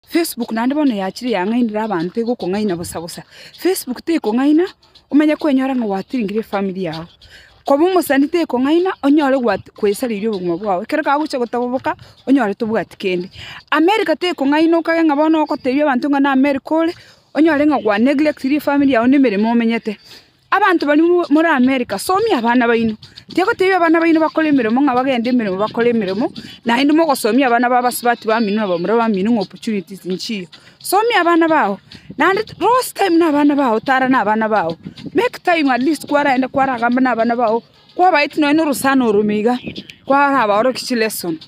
Facebook naende bono yachire yang'ainire abanto egokong'aina bosa bosa. Facebook tekong'aina omanye kwenyora ng'a gwatiringire efamiri yao. Koba omosani tekong'aina onyore gwat kwesariria obogima bwao, ekero kagochia gotoboboka onyore tobwati kende. America tekong'aina okanye ng'a bono ogotebi abanto ng'a na America ore, onyore ng'a gwa neglectiri efamiri yao na emeremo omenyete. Abanto baria more Amerika, somia abana baino. Tigoteebia abana baino bakore emeremo ng'a bagende emeremo bakore emeremo, naende mogosomia abana babo ase abati bamino na bamura bamino ng'a opportunities nchiya. Somia abana bao, naende rose time na abana bao, tara na abana bao, make time at least kwaraenda kwaragamba na abana bao, kwabaetia nonya na orosana orome iga, kwarabaorokia chilesson.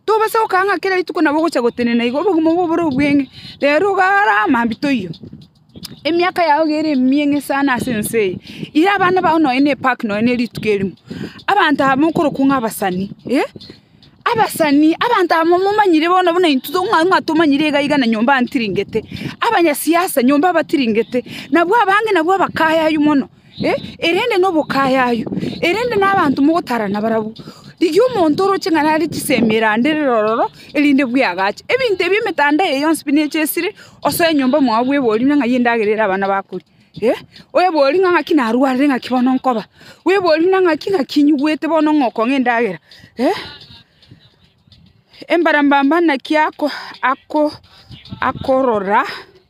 Tobasa gokaa ng'a kera rituko nabo ogocha gotenena iga, obogima obo obore obweng'e, rero iga ara mambia toiyo. Emiaka yao iga ere emiyeng'e sana ase ense eye, ira abana bao nonye ne epark nonye ne rituko erimo, abanto aba mokorokwa ng'a abasani, eh, abasani, abanto aba momomanyire bono buna intwe to- ng'a- ng'a tomanyire iga iga na nyomba antiringete, abanyasiasa nyomba abatiringete, nabwo abange nabwo abakayaywa mono. erende nobokayayu, erende nabanto mogotarana barabwo, rigia omonto oroche ng'a nare chisemi eranderere ororo, erinde bweagache. Ebinto ebi emetanda eye yonsi pi neche esire, osoe nyomba mwao bwebori buna ng'a eyio endagera ere abana bakoria. Bwebori buna ng'aki narwarire ng'aki bono nkoba, bwebori buna ng'aki ng'aki nyigwete bono ng'a okong'a endagera. Embarambamba naki ako ako akorora.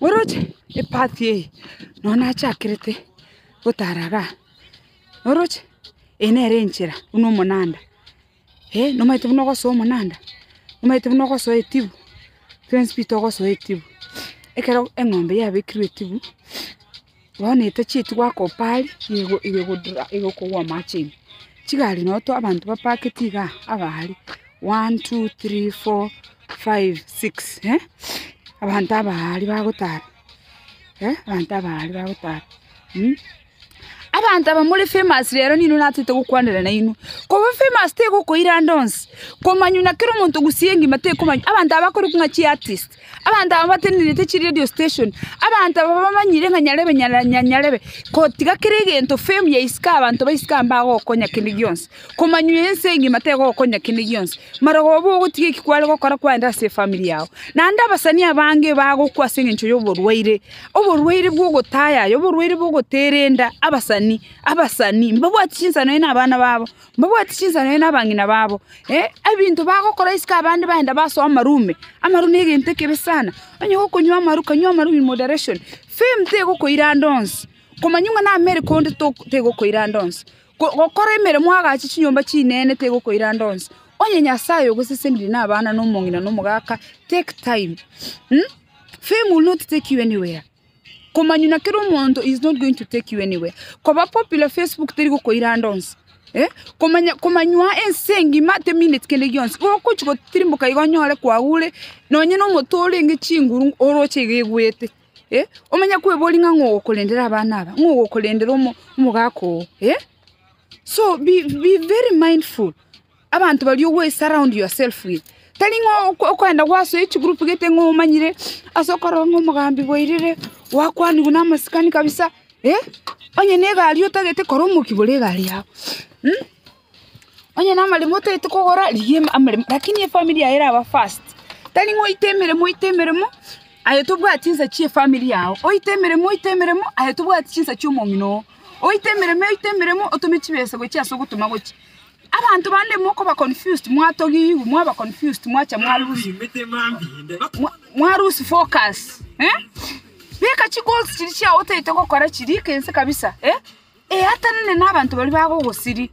oroche epati eye nonya nachakerete gotara iga iga, oroche eye nere enchera buna omonanda, eh nomanyete buna ogosoa omonanda, nomanyete buna ogosoa etibu, twensi pi togosoa etibu, ekero eng'ombe yabekirwe etibu. Bono etachieti goaka opaari, igokogwa amache ime. Chigari noto abanto bapaketi igaa aba aria, one, two, three, four, five, six, eh, abanto aba aria bagotara, eh, abanto aba aria bagotara, mh. Abanto aba more famous rero ninwe natete gokwanera nainwe, koba famous tegokoira ande onsi, komanywa na kera omonto gusii engima tekomanywa, abanto aba bakorokwa ng'a chiartist. Abanto aba batenenete chiredio station, abanto aba bamanyire ng'a nyarebe nyara nya nyarebe gotiga kera egento fame ya isiko abanto ba isiko aba mbagokonya kende gionsi, komanywa ense engima tegokonya kende gionsi, marogoba bogotiga eki kware gokora kwaenda ase efamiri yao. Naende abasani abange bagokwa ase eng'encho yoborwaire, oborwaire bwa ogotayaya, oborwaire bwa ogoterenda, abasani abasani mbabwati chinsano aye na abana babo. Mbabwate chinsemo nere nabang'ina babo, ee, ebinto bagokora isiko abande baenda basoa amaru ime. Amaru negento ekebe sana. Onye gokonywa amaru, kanywa amaru in moderation. Fame tegokoira ande onsi. Komanywa ng'a nameri konde to tegokoira ande onsi. Go gokora emeremo oagache chinyomba chinene tegokoira ande onsi. Onye Nyasaye ogosesenire na abana na omong'ina na omogaka, take time, mh, fame will not take you anywhere. Komanyuna kera omonto is not going to take you anywhere. Koba popular Facebook teri gokoiranda onsi. Eh? Komanya, komanywa ense engima ate minute kende gionsi. Gokochi gotirimboka igo onyore kwagure, nonye na omoto orenge chinguru oroche iga egwete. Eh? Omanye kwebori ng'a ng'o ogokorendera abana aba, ng'o ogokorendera omo, omogaka oo. Eh? So be, be very mindful. Abanto baria ogwe surround yourself with, tari ng'a okoenda gwasoe chigroup gete ng'a omanyire ase okorora ng'a omogambi bwairire, gwakwanigwe namasikani kabisa, eh, onye na egari otagete kora omoki bore egari yago, mh, onye na amaremo otagete kogora rigia ema amaremo lakini efamiri yago eraba first, tari ng'a oite emeremo oite emeremo aye tobwati chinsa chia efamiri yago, oite emeremo oite emeremo aye tobwati chinsa chia omong'ina oo, oite emeremo oite emeremo otome chibesa gochia ase ogotoma gochia. Abanto bande mokoba confused, mwatogigwa, mwaba confused, mwacha mwa lose, mwa- mwa lose focus, eh? Beka chigoals chiria chiao otaete gokora chiria ekense kabisa, eh? Eatanane na abanto baria bagogosiria,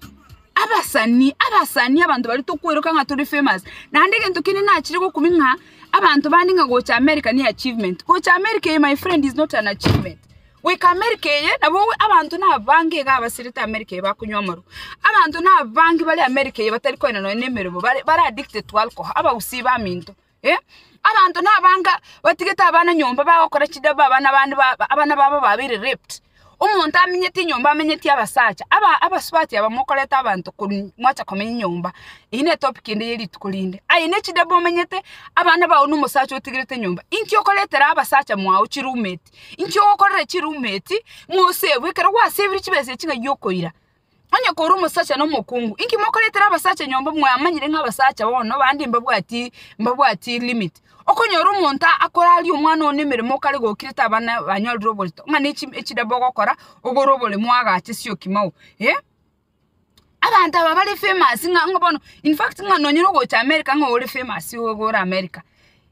abasani, abasani abanto baria tokweroka ng'a tore famous, naende egento kende nachire gokumia ng'a abanto bande ng'a gocha America ne achievement, gocha America eye my friend is not an achievement. Goika Amerika eye, nabo abanto nabange iga abaserete Amerika eye bakonywa amarwa. Abanto nabange bare Amerika eye batari koenda nonya nemeremo, bare bare addicted to alcohol, abagusii baminto, eh. Abanto nabange batigete abana nyomba bagokora chidebe abana bande ba abana babo babeire raped, omonto aminyete enyomba amenyetie abasacha, aba abasubati aba mokoreta abanto korwa mwacha komenya nyomba, eyio netopic ende ya rituko rinde. Aye nechidebe omenyete, abana bao nomosacha otigerete nyomba, inki okoretera abasacha mwao chiroomate. Inki ogokorera chiruuma eti, ng'a oseegwe, ekero gwaseebirie chibesa echi ng'ai okoira? Onye kore omosacha nomokungu, inki mokoretera abasacha nyomba mwamanyire ng'a abasacha bono bande mbabwati mbabwati limit? Okonyora omonto akoraria omwana one emeremo okare gokire tabana banyorire oborito, ng'a ne echi echidabe ogokora ogore oboremo agache sioki mao eh. Abanto aba bare famous ng'a ng'a bono in fact ng'a nonyira ogocha America ng'a ore famous iga ore America.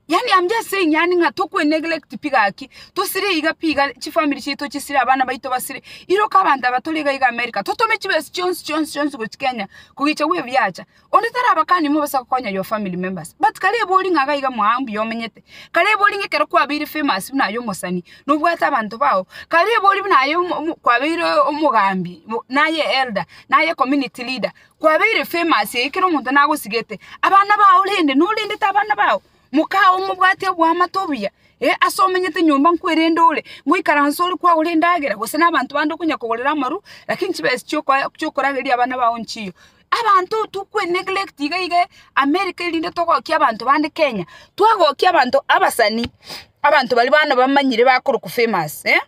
Yaani am just saying yaani ng'a tokwe neglect pi gaki, tosire iga pi iga chifamiri chiaito chisire abana baito basire, iroka abanto aba tore iga iga America totome chibesa chionsi chionsi chionsi gochia Kenya kogecha bwe biacha, Onde tarabakanie mobasa gokonya your family members but kare ebori ng'a iga iga mwao mbuya omenyete. Kare ebori ng'a ekero kwabeire famous buna aye omosani nobwate abanto bao. Kare ebori buna aye kwabeire omogambi naye elder naye community leader kwabeire famous eyi kera omonto nagosigete. Abana bao rende norendete abana bao mokao mobwate oboamate obuya ase omenyete nyomba nkwerende ore ngoikaranse ore kwagora endagera gose nabanto bande okonya kogorera amarwa lakini chibesa chiokorageria abana bao nchiyo. Abanto tokwe neglect iga iga America erinde togokia abanto bande Kenya. Twagokia abanto abasani, abanto baria bana bamanyire bakorokwa famous eh,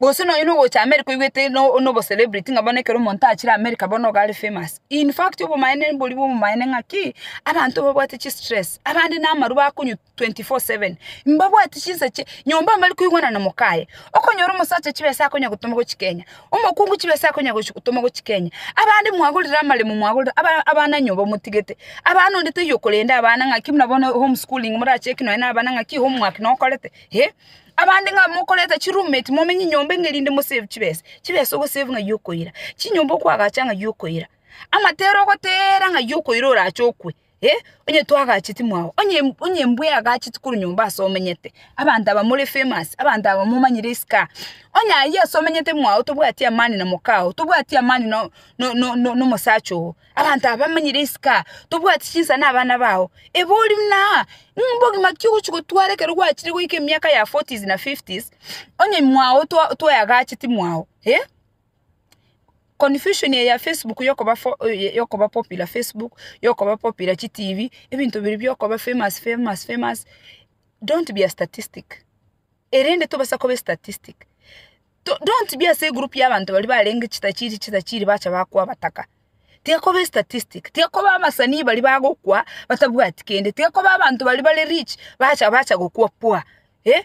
gose nonye na ogocha America oigwete no obo celebrity ng'a bono ekero omonto achire America bono nigo are famous. In fact obomaene mboria bwa obomaene ng'a ki, abanto babwate chistress, abande na amarwa bakonywa 24/7 mbabwati chinsa chie nyomba mbari koigwana na mokaye okonyora omosacha chibesa akonya gotoma gochi kenya omokungu chibesa akonya gochi gotoma gochi kenya abande mwagorire amaremo mwagorire aba abana nyoba motigete abana onde taiyo okorenda abana ng'aki buna bono home schooling moracheki nonya na abana ng'aki homework nokorete eh abande ng'a mokorete chi room mate momenye nyomba eng'e rinde mo save chibesa chibesa ogosave ng'ai okoira chinyomba okoagacha ng'ai okoira amatera ogoteera ng'ai okoira orache okwe. Eh, onye twagacheti mwao, onye onye mbweagacheti korwa nyomba ase omenyete, abanto aba more famous, abanto aba momanyire isiko, onye ayia ase omenyete mwao tobwati amani na mokao, tobwati amani no no no nomosacha oo, abanto aba bamanyire isiko, tobwati chinsa na abana bao, eba ori buna ng'a mbogima ki ogochi gotwara ekero gwachire goika emiaka ya forties na fifties, onye mwao twa twaeagacheti mwao eh. Confusion eye ya Facebook yokoba fo eye yokoba popular Facebook yokoba popular chi tv ebinto biria biokoba famous famous famous don't be a statistic erende tobasa koba estatistic to don't be ase egroup ya abanto baria barenge chitachiri chitachiri bacha bakoa bataka tiga koba estatistic tiga koba abasanii baria bagokwa batabwati kende tiga koba abanto baria bare rich bacha bacha gokwa pwa eh.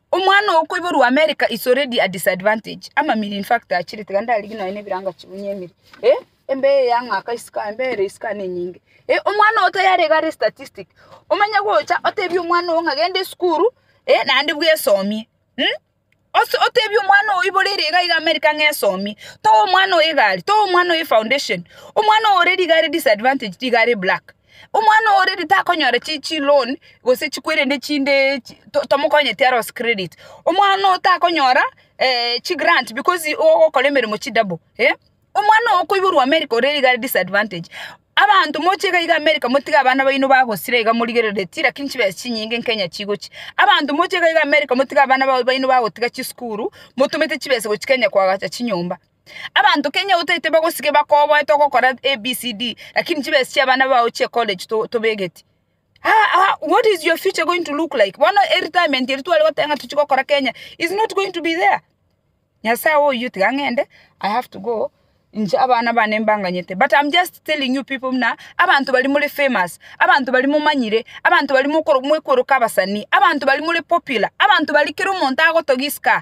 Omwana oo okoiborwa America is already a disadvantage amamiri in fact achire tiga ndarigi nonya nebirango chibunye emiri eh embe eye yang'aka isiko aye embe ere isiko aye nenyinge eh omwana oo tayarenge are statistic omanye gocha otebie omwana oo ng'a genda esukuru eh naende bwesomie mh ose otebie omwana oo oiborere iga iga America ng'a esomie toa omwana oo egari toa omwana oo efoundation omwana oo already iga are disadvantage tiga are black. Omwana oo already takonyora chi chi loan gose chikwerende chinde chi to tomokonye tiaro ase credit. Omwana oo takonyora eh chi grant because igo ogokora emeremo chi double eh, omwana oo okoiborwa America ore iga disadvantage. Abanto moche iga iga America motige abana baino bagosira iga morigereretie lakini chibesa chinyinge Kenya chigochia. Abanto moche iga iga America motige abana bao baino bagotiga chisukuru, motumete chibesa gochia Kenya koagacha chinyomba. Abanto kenya otaete bagosike bakoboete ogokora ABCD lakini chibesa chiabana bao chie college tobegeti. Haa what is your future going to look like? Bono eretirement eri tware goteba ng'a tochie gokora Kenya is not going to be there. Nyasaye oyio tiga ng'ende I have to go inche abana bane mbanganyete but am just telling you people buna abanto baria more famous, abanto baria momanyire, abanto baria mwekworoka abasani, abanto baria more popular, abanto baria kera omonto agotogia isiko aa.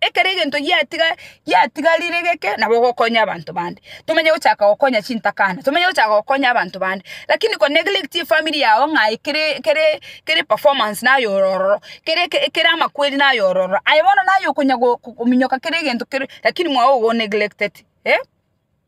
Ekero egento giatiga giatigarire geke nabo ogokonya abanto bande, tomanye gochaka gokonya chintakana, tomanye gochaka gokonya abanto bande, lakini ko neglect efamiri yago ng'a aye kere kere kere performance naye oro ororo, kere eke ekere amakweri naye oro ororo, aye bono naye okonya go kominyoka kera egento kere lakini mwago ogo o neglected eh.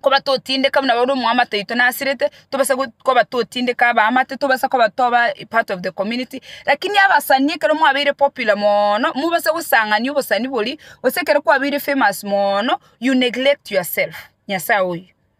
koba totindeka buna baria omwamate oito nasirete, tobase go koba totindeka abaamate, tobasa koba toba a part of the community, lakini abasani ekero mwabeire popular moono, mobase gosang'ania obosani boria, gose ekero kwabeire famous moono, you neglect yourself, Nyasae oyo.